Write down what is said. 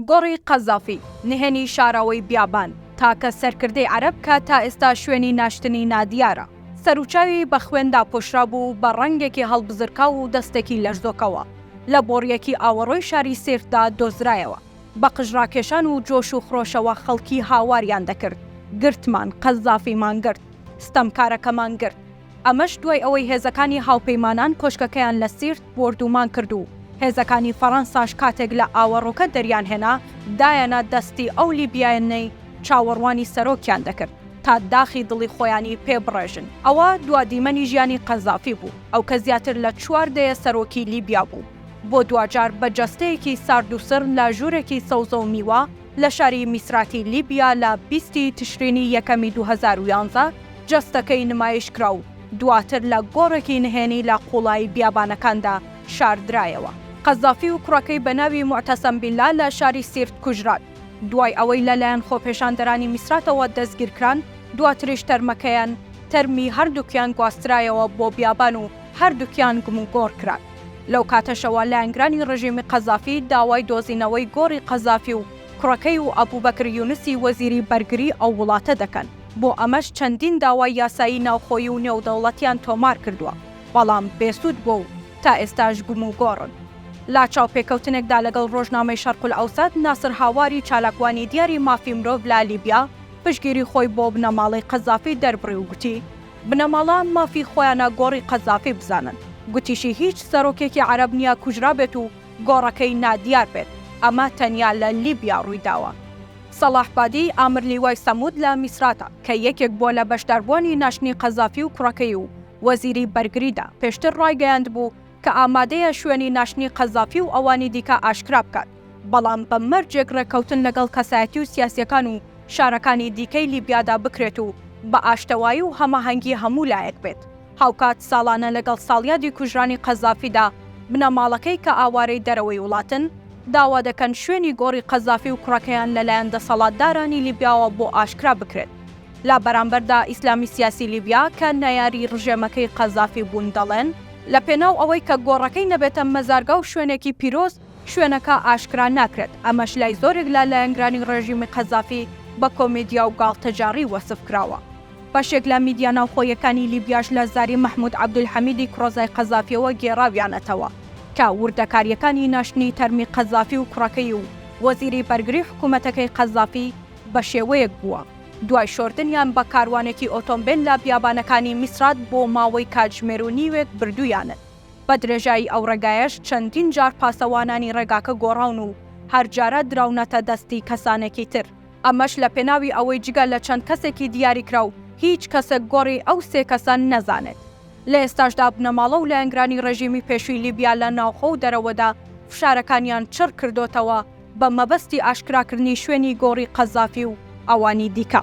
گۆڕی قەزافی، نهێنی شاراوەی بیابان، تاکە سەرکردەی عەرەب کە تا ئێستا شوێنی ناشتنی نادیارە. سەروچاوی بە خوێن داپۆشرابوو و بە ڕەنگێکی هەڵبزرکاو و دەستێکی لەرزۆکەوە لە بۆڕییەکی ئاوەڕۆی شاری سیرتدا دۆزرایەوە. بە قژراکێشان و جۆش و خرۆشەوە خەڵکی هاواریان دەکرد، گرتمان، قەزافیمان گرت، ستەمکارەکەمان گرت. ئەمەش دوای ئەوەی هێزەکانی هاوپەیمانان کۆشکەکەیان لە سیرت بۆردوومان کرد و هێزەکانی فەڕەنساش کاتێک لە ئاوەڕۆکە دەریانهێنا دایەنە دەستی ئەو لیبییانەی چاوەڕوانی سەرۆکیان دەکرد تا داخی دڵی خۆیانی پێ بڕێژن. ئەوە دوا دیمەنی ژیانی قەزافی بوو، ئەو کە زیاتر لە چوار دەیە سەرۆکی لیبیا بوو، بۆ دواجار بە جەستەیەکی سارد و سڕ لە ژوورێکی سەوزە و میوە لە شاری میسراتی لیبیا لە بیستی تشرینی یەکەمی دوو هەزار و یانزە، جەستەکەی نمایشکرا و دواتر لە گۆڕێکی نهێنی لە قوڵایی بیابانەکاندا شاردرایەوە. قەزافی و کوڕەکەی بە ناوی موعتەسەم بیللا لە شاری سیرت کوژران. دوای ئەوەی لەلایەن خۆپێشاندەرانی میسراتەوە دەستگیرکران، دواتریش تەرمەکەیان، تەرمی هەردووکیان گواسترایەوە بۆ بیابان و هەردووکیان گموگۆڕ کران. لەو کاتەشەوە لایەنگرانی ڕژیمی قەزافی داوای دۆزینەوەی گۆڕی قەزافی و کوڕەکەی و ئەبوبەکر یونسی وەزیری بەرگری ئەو وڵاتە دەکەن. بۆ ئەمەش چەندین داوای یاسایی ناوخۆیی و نێودەوڵەتیان تۆمار کردووە، بەڵام بێسوود بووە و تا ئێستاش گوم و گۆڕن. لە چاوپێکەوتنێکدا لەگەڵ ڕۆژنامەی شەرقولئەوسەت، ناسر هاواری چالاکوانی دیاری مافی مرۆڤ لە لیبیا پشتگیری خۆی بۆ بنەماڵەی قەزافی دەربڕی و گوتی، بنەماڵە مافی خۆیانە گۆڕی قەزافی بزانن. گوتیشی هیچ سەرۆکێکی عەرەب نییە کوژرابێت و گۆڕەکەی نادیار بێت، ئەمە تەنیا لە لیبیا ڕوویداوە. سەڵاح بادی، ئامرلیوای سەموود لە میسراتە، کە یەکێک بووە لە بەشداربووانی ناشتنی قەزافی و کوڕەکەی و وەزیری بەرگریدا، پێشتر ڕایگەیاندبوو کە ئامادەیە شوێنی ناشتنی قەزافی و ئەوانی دیکە ئاشکرا بکات، بەڵام بە مەرجێک ڕێککەوتن لەگەڵ کەسایەتی و سیاسییەکان و شارەکانی دیکەی لیبیادا بکرێت و بە ئاشتەوایی و هەماهەنگی هەموو لایەک بێت. هاوکات ساڵانە لەگەڵ ساڵیادی کوژرانی قەزافیدا، بنەماڵەکەی کە ئاوارەی دەرەوەی وڵاتن، داوا دەکەن شوێنی گۆڕی قەزافی و کوڕەکەیان لەلایەن دەسەڵاتدارانی لیبیاوە بۆ ئاشکرا بکرێت. لە بەرامبەردا ئیسلامی سیاسی لیبیا کە نەیاری ڕژێمەکەی قەزافی بوون دەڵێن، لە پێناو ئەوەی کە گۆڕەکەی نەبێتە مەزارگە و شوێنێکی پیرۆز، شوێنەکە ئاشکرا ناکرێت، ئەمەش لای زۆرێک لە لایەنگرانی ڕێژیمی قەزافی بە کۆمێدیا و گاڵتەجاڕی وەسف کراوە. بەشێک لە میدیا ناوخۆیەکانی لیبیاش لە زاری مەحمود عەبدولحەمیدی کوڕەزای قەزافیەوە گێڕاویانەتەوە کە وردەکارییەکانی ناشتنی تەرمی قەزافی و کوڕەکەی و وەزیری بەرگری حکوومەتەکەی قەزافی بە شێوەیەک بووە دوای شۆردنیان بە کاروانێکی ئۆتۆمبێل لە بیابانەکانی میسرات بۆ ماوەی کاتژمێر و نیوێک بردوویانن. بە درێژایی ئەو ڕێگایەش چەندین جار پاسەوانانی ڕێگاکە گۆڕاون و هەر جارە دراونەتە دەستی کەسانێکی تر. ئەمەش لە پێناوی ئەوەی جگە لە چەند کەسێکی دیاریکراو هیچ کەسێک گۆڕی ئەو سێ کەسە نەزانێت. لە ئێستاشدا بنەماڵە و لایەنگرانی ڕێژیمی پێشووی لیبیا لە ناوخۆ و دەرەوەدا فشارەکانیان چڕ کردۆتەوە بە مەبەستی ئاشکراکردنی شوێنی گۆڕی قەزافی و ئەوانی دیکە.